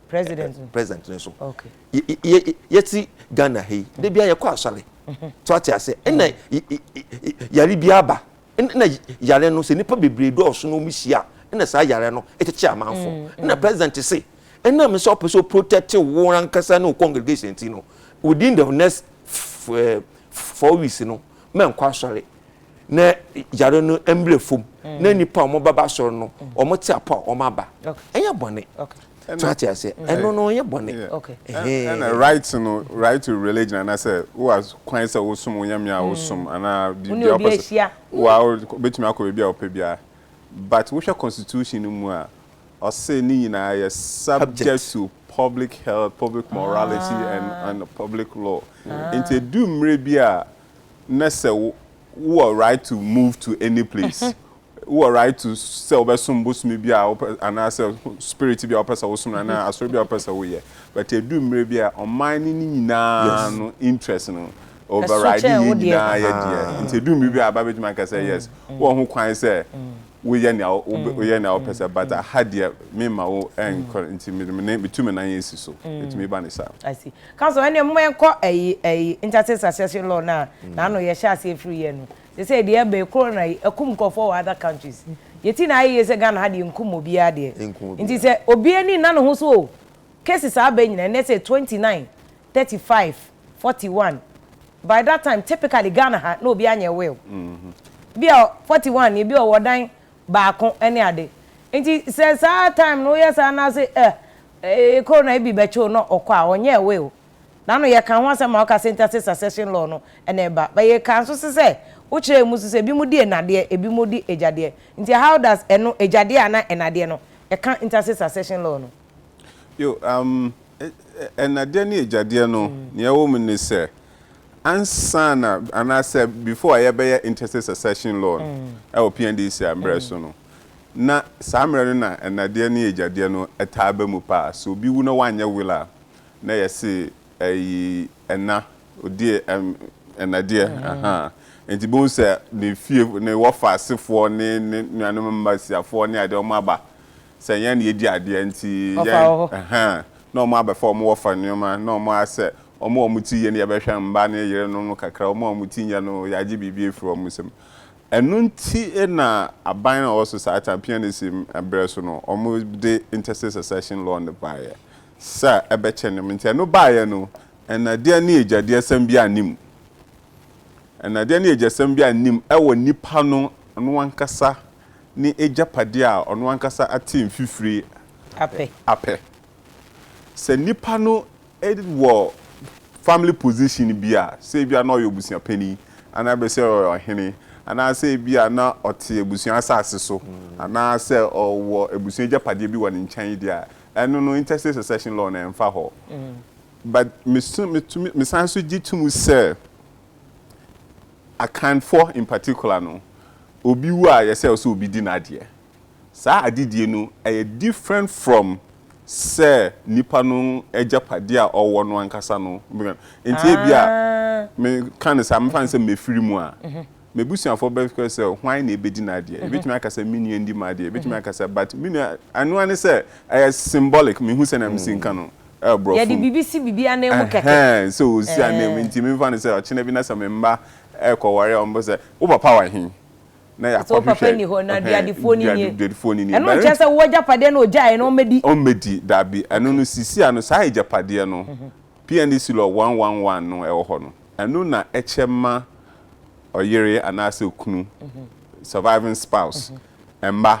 President no. president no so. Okay. Yɛ, yɛ, yɛte Ghana ha yi, da biara yɛkɔ asɔre. So ate aseɛ? Ɛna y, y, y, yare biara ba. Ɛna yare no, sɛ nnipa bebree dɔɔso na wɔn hyia a, ɛna saa yare no kyekye amanfoɔ. Ɛna president se, ɛnam sɛ ɔpɛ sɛ ɔprotect wo ankasa ne wo congregation nti no, within the next f, eh, four weeks no mɛnkɔ asɔre na yare no mmerɛ fam mm. na nnipa a wɔbɛba asɔre no mm. wɔn te apɔ a wɔn aba ɛnyɛ bɔne so ate ase ɛno no ɛnyɛ bɔne ɛna right no right to religion anaasɛ wowa kwan sɛ wosom wo nyame a mm. wosom anaa biribi a wopɛ sɛ woa wobɛtumi akɔ baabi a wopɛ biara but wohwɛ constitution no mu a ɔse ne nyinaa yɛ subject to Public Health, Public Morality and and Public Law. Nti edu mmerɛ bi a na sɛ wo wowɔ right to move to any place, wowɔ right to sɛ wobɛsom bosome bi a wopɛ anaasɛ spirit bi a wopɛ sɛ wosom no anaa asɔre bi a wopɛ sɛ woyɛ. But edu mmerɛ bi a ɔman no ne nyinaa no interest no override yɛn nyinaa yɛ deɛ. Nti edu mmerɛ bi a aba bɛtumi aka sɛ yes wowɔ ho kwan sɛ woyɛ nea woyɛ nea wopɛ sɛ but aha deɛ mema wo ɛnkɔ nti mede me nan metu me nan asi so ɛtumi ba ne saa. I see council ɛnna mo ɛnkɔ ɛyi ɛyi intercity succession law na na ano yɛhyɛ aseɛ firi yɛ no sɛ sɛ deɛ ɛbɛ corona yi ɛkum nkurɔfoɔ wɔ other countries yɛti na ayɛ yie sɛ Ghana ha deɛ nkum obiara deɛ nti sɛ obiara ni nna ne ho so o cases abɛ nyina ɛnɛ sɛ twenty nine thirty five, forty one by that time typically Ghana ha na obiara nyɛ will bi a forty one ebi ɔwɔ dan baako ɛne ade nti sɛ saa time no woyɛ saa na ase ɛ ekoro na ebi bɛkyew na ɔkɔ a ɔnyɛ will nano yɛ ka ho asɛm ma ɔka sentase succession law no ɛna ɛba but yɛ ka nso se sɛ wokyerɛ emu so sɛ ebi mo di enadeɛ ebi mo di egyadeɛ nti how does ɛno egyadeɛ ana enadeɛ no ɛka intase succession law no. Yoo, am, ɛnnadeɛ ne agyadeɛ no, nea ɛwɔ mu ne sɛ, ansa na, anaasɛ before a yɛbɛyɛ interstate succession law no wɔ PNDC a mmerɛ so no, na saa mmerɛ no na ɛnnadeɛ ne agyadeɛ no taa ba mu paa. Sɛ obi wu na wanyɛ will a, na yɛse ɛyi ɛnna, ɔdie ɛm, ɛnnadeɛ, ahaa. Nti bohu sɛ ne fie, ne wɔfa asefoɔ ne ne nuanom mma siafoɔ ne adeɛ wɔn aba, sɛ yɛn na yɛdi adeɛ nti yɛn ɛhɛn na wɔn abɛfa wɔn wɔfa nneɛma na wɔn ayɛ sɛ wɔn a wɔn ti yɛ no yɛbɛhwɛ mma ne yerenom no kakra wɔn a wɔn ti nyɛ no yɛagye biribi afiri wɔn nsam ɛno nti na aban a ɔwɔ so saa time PNAC berɛ so no wɔde interstate succession law no baeɛ sɛ ɛbɛkyɛ nneɛma nti ɛno baeɛ no ɛnadeɛ ne agyadeɛsɛm biara nni mu ɛnadeɛ ne agyasɛm biara nni mu ɛwɔ nipa no no ankasa ne agyapadeɛ a ɔno ankasa ate mfifire apɛ. Sɛ nnipa no wɔ family position bi a, sɛ ebia na ɔyɛ obusuapanin, anaa bɛ sɛ ɔyɛ ɔhene, anaa sɛ ebia na ɔte abusua asase so, anaa sɛ ɔwɔ abusua agyapadeɛ bi wɔ ne nkyɛn deɛ a, ɛno no intestate succession law no ɛmfa hɔ. But mesu, metumi, mesan nso gye tom sɛ, Akanfoɔ in particular no, obi wu a yɛsɛ ɔsɛ obi di n'adeɛ. Saa adedie no ɛyɛ different from sɛ nipa no agyapadeɛ a ɔwɔ no ankasa no. Nti ebi a me ka no saa, me fa no sɛ mefiri mu a, m'abusuafoɔ bɛka sɛ hwan na ɛbɛdi n'adeɛ. Yɛbɛtumi aka sɛ me nua ndi m'adeɛ, yɛbɛtumi aka sɛ but me nua, ɛno ara ne sɛ ɛyɛ symbolic, mehu sɛdeɛ mesi nka no. Yɛde biribi si biribi ananmu kɛkɛ. Ɛhɛn, sɛ osi ananmu nti memfa no sɛ ɔkyena bi na sɛ me mma rekɔware a wɔbɛbisa sɛ, Wo papa wɔ he? Na yɛakɔhwehwɛ. Sɛ wo papa nni hɔ, na duadifoɔ no nie. Duadifoɔ no nie. Ɛno nkyerɛ sɛ wo agyapadeɛ no ogyaeɛ no ɔmmɛdi. Ɔmmɛdi, daabi. Ɛno no sisiaa no saa agyapadeɛ no, PNDC Law one one one no ɛwɔ hɔ no, ɛno na ɛkyɛ ma ɔyere anaasɛ okunu, surviving spouse, mma.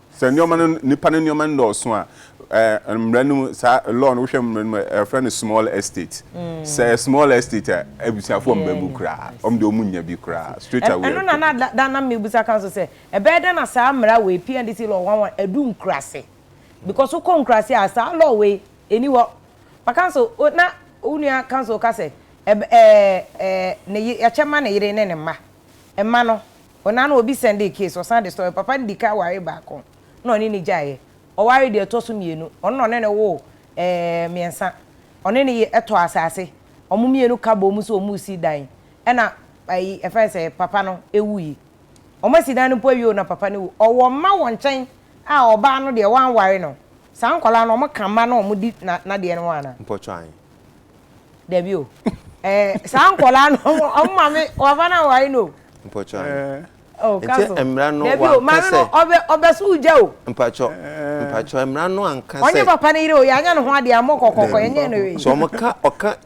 Sɛ nneɛma no, nnipa no nneɛma no dɔɔso a, ɛɛ mmara no mu, saa law no, wohwɛ mmara no mu a, ɛfrɛ no small estate. Sɛ ɛyɛ small estate a, abusuafoɔ mma mu koraa. Wɔn deɛ wɔn nnya bi koraa, straight away. Ɛno na na da da na mebusa ka nso sɛ, ɛbɛyɛ dɛn na saa mmara wei, PNDC law one one, adu nkuraase? Because wokɔ nkuraase a, saa law wei, ɛnni hɔ. Ma ka nso, o, na wo nua ka nso ka sɛ, ɛb, ɛɛ, ɛɛ, ne ye, yɛakyɛ ma ne yere ne ne mma. Mma no, ona no obi sɛndee case, ɔsan de story, papa no dikan waree baako na ɔne no gyaeɛ, ɔwaree deɛ ɛtɔ so mmienu, ɔno na ɔne no woo ɛɛɛ mmiɛnsa, ɔne no ye tɔɔ asaase, wɔn mmienu ka boom sɛ wɔn resi dan ɛna ɛyi yɛfrɛ no sɛ papa no wuie. Wɔn asi dan no mpo awie o na papa no wu. Ɔwɔ mma wɔ nkyɛn a ɔbaa no deɛ wanware no. Saa nkwadaa no wɔka mma na wɔdi na nadeɛ no ho anaa? Mpɔtɔ ahe Dabi o. Eh, saa nkɔla no, ɔmo maame, wafa na wari no. Mpɔtɔ ano. Eh. Oh, kaso. Nti mmara no wankasɛ. Dabi o, maame no, ɔbɛ, ɔbɛ so gya o. Mpɔtɔ, mpɔtɔ, mmara no ankasɛ. Ɔnye papa no yere o, yanya ne ho adeɛ, amɔ kɔkɔkɔ, yɛnyɛ no wei. So ɔmo ka, ɔka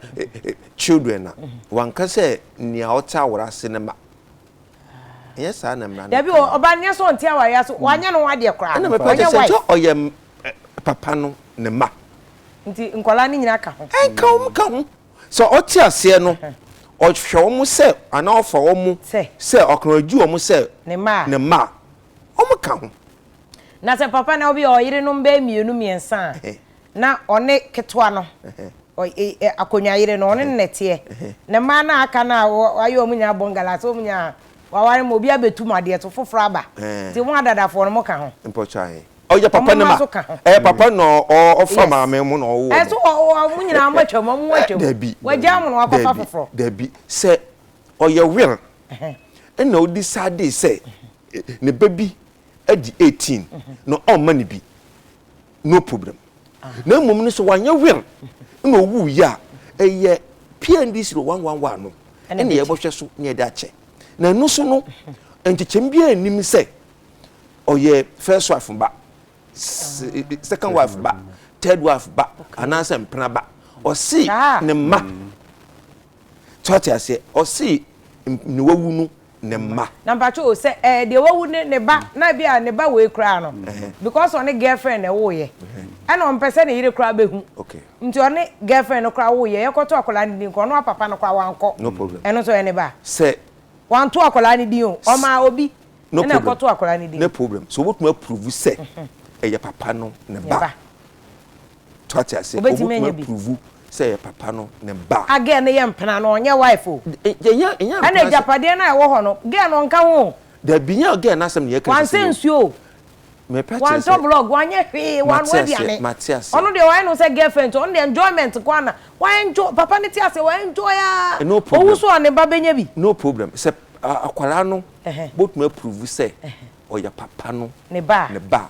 children a, wankasɛ nea ɔte aware ase no ma. Ɛnyɛ saa na mmara no ka. Dabi o, ɔba no, nyɛ sɛ ɔnte aware ase, wanyɛ ne ho adeɛ koraa. Ɛna mɛpɛ kyɛ sɛ, sɛ ɔyɛ papa no ne mma. Nti nkwadaa no nyinaa ka ho? Ɛnka wɔn ka ho. Sɛ ɔte aseɛ no, ɔhwɛ wɔn sɛ anaa ɔfa wɔn sɛ ɔkɔnɔdwi wɔn sɛ ne mma a, wɔn ka ho. Na sɛ papa no bi a ɔyerenom bɛyɛ mmienu mmiɛnsa a, na ɔne ketewa no, akonnwa yere no, ɔne no na ɛteɛ. Ne mmaa no a aka no a wɔayɛ wɔn nyinaa bɔngala sɛ wɔn nyinaa wɔaware ma obi abɛtu mu adeɛ so foforɔ aba. Nti mo adadafoɔ no mo ka ho? Mpɔkyɛ ahe? ɔyɛ papa ne ma ɛyɛ papa na ɔfa maame mu na ɔwɔ mu ɛso ɔmo nyinaa ɔmo atwa mu ɔmo atwa mu dabi wagya ɔmo na wakɔfa foforɔ dabi sɛ ɔyɛ wɛl ɛna odi saa de sɛ ne ba bi adi eighteen na ɔmma ne bi no problem na mmom no sɛ wanyɛ wɛl na owu yi a ɛyɛ pndc no one one one no ɛna yɛbɛhwɛ so na yɛde akyɛ na ɛno so no nkyekyɛm biara nnim sɛ ɔyɛ first wife ba second wife ba third wife ba anaasɛ mpena ba ɔsi ne mma tí wàá ti aseɛ ɔsi ne wawu no ne mma. na mpatsɛ o sɛ ɛɛ deɛ wawu ne ne ba na ebi a ne ba wei koraa no because ɔne girlfriend na ɛwɔ yɛ ɛna ɔmpɛ sɛ ne yere koraa bɛ hu nti ɔne girlfriend no koraa wɔ yɛ yɛ kɔtɔ akwadaa ne din kɔ ɔno apapa no koraa wankɔ ɛno nso ɛne ba sɛ wanto akwadaa ne din o ɔmaa obi. no problem no problem so wobɛtumi approve sɛ ɛyɛ papa no ne ba to ate ase wobɛtumi approve sɛ ɛyɛ papa no ne ba a girl no yɛ mpena no ɔnyɛ wife o ɛna agyapadeɛ no a ɛwɔ hɔ no girl no ɔnka ho dabi nyɛ girl no asɛm ne yɛka wansɛ nsuo o wantɔ blog wanyɛ hwee wanoa aduane ɔno deɛ wayɛ no sɛ girlfriend ɔno deɛ enjoyment kɔ ana waenjoy papa no te ase waenjoy a ɔwu so a ne ba bɛnya bi no problem sɛ akwaraa no botumi approve sɛ ɔyɛ papa no ne ba a,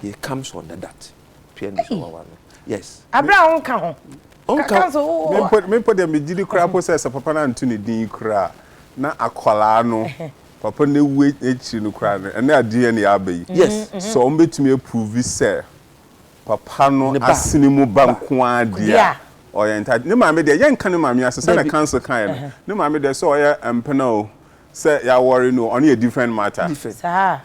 it comes under that. Pia ni sɛ wawa no. Yes. Abere a wonka ho. Wonka ho. Me mpo deɛ megye di koraa mpo sɛ sɛ papa no anto ne din yi koraa a, na akwadaa no, papa no awu akyiri no koraa no, ɛnnɛ a DNA aba yi, sɛ wɔbɛtumi approve sɛ papa no asene mu ba nko ara deɛ a, ɔyɛ entitled. Ne maame deɛ, yɛnka ne maame ase. Sɛdeɛ counsel kaeɛ no, ne maame deɛ sɛ ɔyɛ mpena o, sɛ yɛawɔre no ɔno yɛ different matter. Saa a.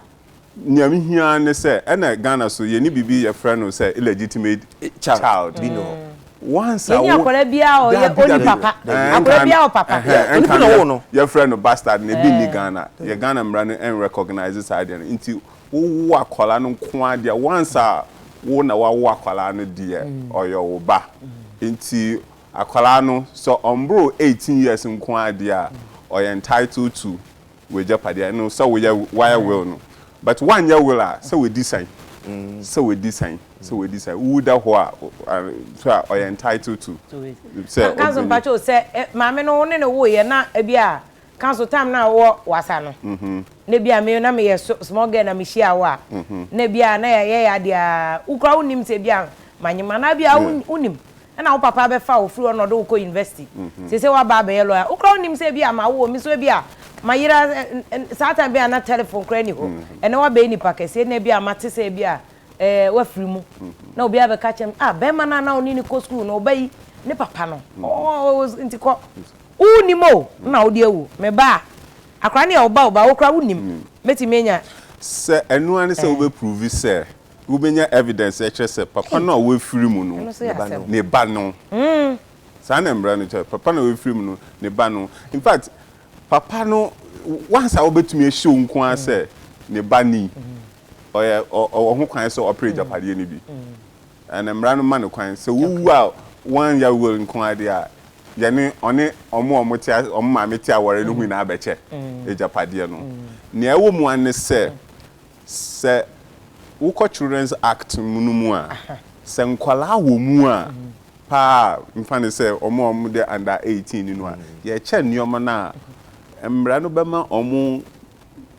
Nea me hia ara ne sɛ ɛna Ghana so yɛnni biribi yɛfrɛ no sɛ illegitimate child. Bi no. Once a wo. Yɛnni akwadaa biara a ɔyɛ ɔnni papa. Akwadaa biara wɔ papa. Onipa na ɔwoo no. Yɛfrɛ no bastard no ebi nni Ghana. Yɛ Ghana mmara no ɛn recognise saa adeɛ no. Nti wowo akwadaa no nko ara deɛ once a wo na wawo akwadaa no deɛ ɔyɛ wo ba. Nti Akwadaa no, sɛ ɔmboro eighteen years nko ara deɛ a, ɔyɛ entitled to w'agyapadeɛ, ɛno sɛ woyɛ, wayɛ will no. But woanyɛ will a, sɛ wadi sɛn? Sɛ wadi sɛn? Sɛ wadi sɛn? Wowu da hɔ a, nso a, ɔyɛ entitled to sɛ ɔbɛnya. Council, mpakyɛw, sɛ maame no wo ne no woeɛ na ebia Ka so time no a wowɔ wasa no na bia me na meyɛ small girl na me hyia wo a na bia na yɛyɛ yɛ adeɛ a wo kora wonim sɛ bia manyem anaa bia wonim ɛna wo papa bɛfa wo firi hɔ na ɔde wo kɔ university sese waba abɛyɛ lawyer wo kora wonim sɛ bia ma wo me so bia ma yera saa time bia na telephone kora ni hɔ ɛnɛ wabɛyɛ nipa kɛseɛ na bia mate sɛ bia ɛɛ wafiri mu na obi abɛka kyɛm ah bɛrima no a na ɔne ne kɔ school no ɔba yi ne papa no ɔɔ nti kɔ Wo nnim o na wode awu. Me ba a, akora ne yɛ wo ba o but wo kora wo nnim mɛtumi anya. Sɛ ɛno ara ne sɛ wobɛ prove sɛ wobɛnya evidence ɛkyerɛ sɛ papa no a wafiri mu no ne ba no. Saa na mmara no kyerɛ. Papa no a wafiri mu no ne ba no. In fact papa no once a wobɛtumi a show nko ara sɛ ne ba ni, ɔyɛ ɔwɔ ho kwan sɛ ɔpere agyapadeɛ no bi. Na mmara no ma no kwan sɛ wowu a wɔannya will nko ara de a, yɛne ɔne wɔn a wɔte ase, wɔn maame te aware no ho nyinaa bɛkyɛ agyapadeɛ no. Nea ɛwɔ mu ara ne sɛ, sɛ wokɔ Children's Act no mu a, sɛ nkwadaa wɔ mu a pa ara a, mfa no sɛ wɔn a wɔde under 18 ni no a, yɛkyɛ nneɛma no a mmara no bɛma wɔn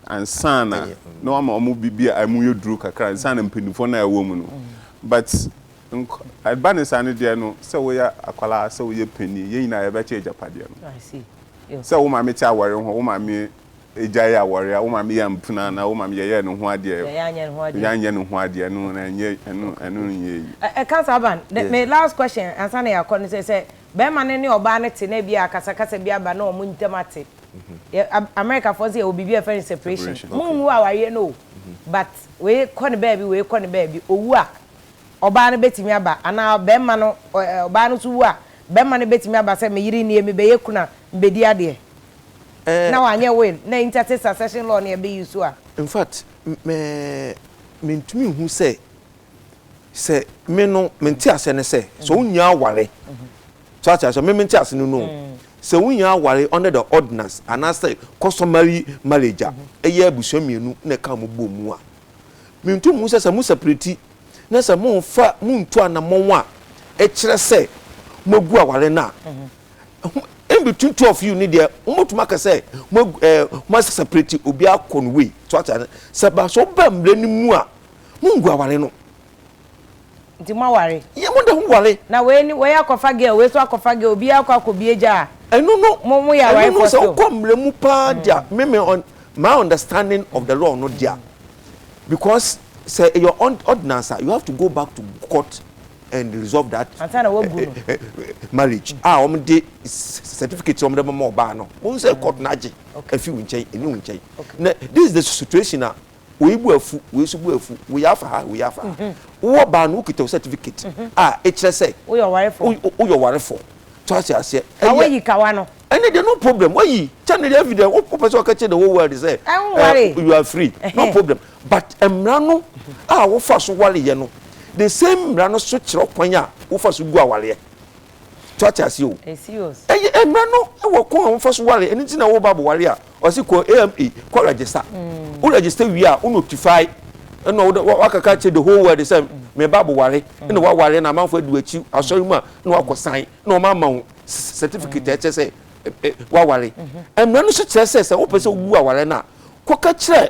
ansa na na wama wɔn biribi a ɛmu yɛ duru kakra ansa na mpanimfoɔ no a ɛwɔ mu no but nk ɛba ne saa no deɛ no sɛ woyɛ akwadaa sɛ woyɛ panin yɛn nyinaa yɛbɛkyɛ agyapadeɛ no I see yo sɛ wo maame te awɔre ho wo maame gyae awɔre a wo maame yɛ mpena anaa wo maame yɛyɛɛ ne ho adeɛ yɛyɛ anyɛ ne ho adeɛ yɛanyɛ ne ho adeɛ no na ɛnyɛ ɛno okay ɛno okay nyɛ yi ɛ ɛka saa ban the me last question ansa na yɛakɔ no sɛ sɛ bɛrima no ne ɔbaa no te na ebi a akasakasa bi aba na wɔn ntam ate Americafoɔ nso yɛwɔ biribi a yɛfrɛ no separation. Monhu awareɛ no o, but wei kɔ no baabi, wei kɔ no baabi. Ɔwu a, ɔbaa no bɛtumi aba anaa barima no, ɔbaa no nso wu a, barima no bɛtumi aba sɛ me yere nie, mebɛyɛ kunu a, mebɛdi adeɛ. Na wanyɛ will, na interstate succession law no yɛbɛ use a. In fact, me, mentumi nhu sɛ, sɛ me no, me nteaseɛ ne sɛ, sɛ wonnya aware, So ate aseɛ? Me mente ase no no o. Sɛ wonya aware under the ordinance anaasɛ customary marriage a, ɛyɛ abusua mmienu na ɛka wɔn bɔ mu a, mentu mo sɛ sɛ mo separate na sɛ momfa montu anammɔn a ɛkyerɛ sɛ moagu aware no a, in between two of you ne deɛ mobɛtumi aka sɛ mo ɛɛ mo separate obiara kɔ no wei. So ate aseɛ? Sɛ ba sɛ woba mmerɛ no mu a, mongu aware no. Nti mo aware. Yɛ mo da ho ware. Na wei ni wei akɔfa girl wei so akɔfa girl obiara akɔ akɔ bie gya a. Ɛno no mo mo yɛ aware fɔ so. Ɛno no sɛ wokɔ mmerɛ mu paa mm. dia me me on my understanding of the law no dia mm. because sɛ your ordinance a you have to go back to court and resolve that uh, uh, marriage a wɔn de certificate wɔn de bɛma ɔbaa no wɔn sɛ court na agye afi wɔn nkyɛn ɛni wɔn nkyɛn na this is the situation na Wei bo afu, wei nso bo afu, wei afa ha, wei afa ha. Wowɔ baa no, wokita wo certificate a ɛkyerɛ sɛ woyɛ ɔwarefoɔ. Woyɛ ɔwarefoɔ. So ate aseɛ? Ka woayi kawa no. Ɛnne deɛ no problem. Woayi kyɛ no deɛ afei deɛ wopɛ sɛ wɔka kyerɛ the whole world sɛ you are free. No problem. But mmara no a wofa so wareɛ no, the same mmara no so kyerɛ kwan a wofa so gu awareɛ. so ate ase o ɛyɛ mmara no wɔ kɔn a wɔfa so ware ɛno nti na wɔba abɔware a ɔse kɔ ama kɔ register wo register wie a wo notify ɛna wode wakaka kyerɛ the whole world sɛ meba abɔware ɛna waware na amanfo adu akyi asɔre mu a na wakɔ san na wɔn ama wo certificate ɛkyɛ sɛ waware mmara no so kyerɛ sɛ sɛ wopɛ sɛ wobu aware no a kɔka kyerɛ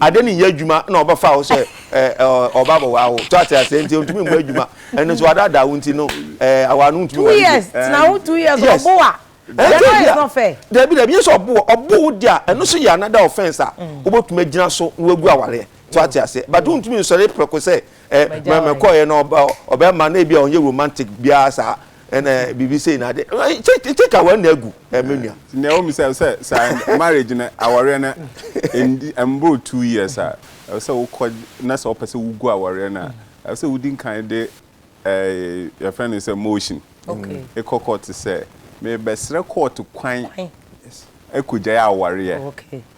Ade no nyɛ adwuma na ɔbɛfa wo sɛ ɔba abɛwaa wo. So ate aseɛ nti ɔntumi mmɔ adwuma. Ɛno nso wadaadaa wo nti no awaa no ntumi ware bio. Two years tena ho two years ɔbo wa. That one is not fair. Dabi dabi nyɛ sɛ ɔbo wɔ ɔbo wo deɛ a ɛno nso yɛ another offence a wobɛtumi agyina so na wagu awareɛ. So ate aseɛ but wontumi nsɔre prɛko sɛ mɛkɔɔyɛ na ɔbɛma na ebi a ɔnyɛ romantic biara saa. Ɛna biribi sei na ade take aware na agu ɛmɛ nua. Nea wɔn bisa sɛ sɛ marriage no awɔreɛ no ɛndi ɛmboro two years a ɛwɔ sɛ wokɔ na sɛ wɔpɛ sɛ wogu awɔreɛ no a ɛwɔ sɛ wodi nkan de ɛɛ yɛfrɛ no sɛ motion ekɔ court sɛ mebɛsrɛ court kwan ɛkɔgyae awɔreɛ.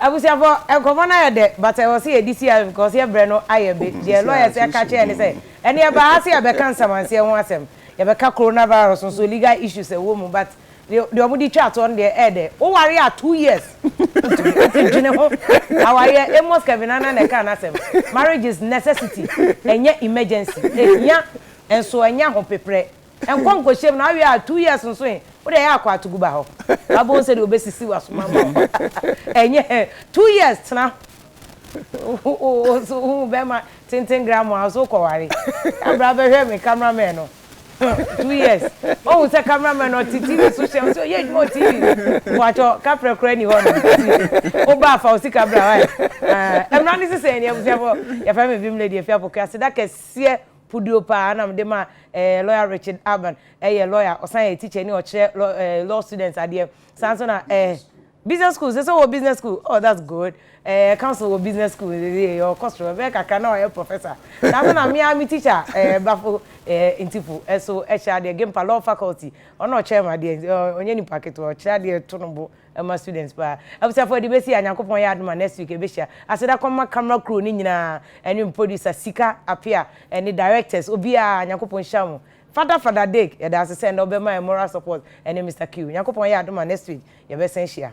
Abusuafo, nkɔmmɔ no ayɛ dɛ but ɛwɔ sɛ yɛde si ano because yɛn berɛ no ayɛ be. Deɛ lawyers ɛka kyerɛ yɛn ne sɛ, ɛnnɛ yɛbaa ha sɛ yɛbɛka nsamanseɛ ho asɛm, yɛbɛka coronavirus nso legal issues ɛwɔ mu but deɛ wɔde twaa toɔ no deɛ ɛyɛ dɛ. Woware a two years wontumi ase dwene ho awareɛ. Amos Kevin Annan na ɛkaa n'asɛm. Marriage is necessity ɛnyɛ emergency. Ɛhia nso ɛnyɛ ahopeprɛ. Nkɔ nkɔhyɛm na awie a two years nso he, wo deɛ yɛ akɔ ato gu ba hɔ. Wabɛhu sɛdeɛ ɔbɛsisi w'asom ama wo. Ɛnyɛ hɛ. Two years tena. Wo nso wohu bɛrima tenten grandma wo nso wokɔware. Yɛ bra bɛhwɛ me camera man no. Two years. Woahu sɛ camera man no ɔte TV so hyɛ wo sɛ ɔyɛ adwuma wɔ TV so. Mpakyɛ kaprɛ koraa nni hɔ nom. Woba a fa wo sika bra wai. Mmra ne sesɛɛ ni abusuafoɔ. Yɛfrɛ me Vim Lady Afiapoku. Aseda kɛseɛ Puduo paa na mede ma eh, lawyer Richard Aban ɛyɛ lawyer, ɔsan yɛ teacher ni, ɔkyerɛ law eh, law students adeɛ, saa nso na eh, business school, sɛ sɛ ɔwɔ business school, oh that's good, eh, council wɔ business school, eh, eh, ɔkɔ soro, ɛbɛyɛ kakra na wayɛ professor, saa nso na me ara me teacher eh, Bafo eh, Ntifu ɛso ɛkyerɛ adeɛ, Gimpa law faculty, ɔno na ɔkyerɛ me adeɛ, eh, ɔnyɛ nipa ketewa, ɔkyerɛ adeɛ to no bo Ɛma students paa. Abusuafoɔ yɛde bɛsi ha Nyankopɔn yɛ adom a next week yɛbɛhyia. Aseda kɔma camera crew no nyinaa ɛne me producer Sika Apea ɛne directors obiara Nyankopɔn nhyira mo. Fada Fada Dick yɛdaase sɛ ɛnɛ wo bɛma yɛn moral support ɛne Mister Q. Nyankopɔn yɛ adom a next week yɛbɛsan hyia.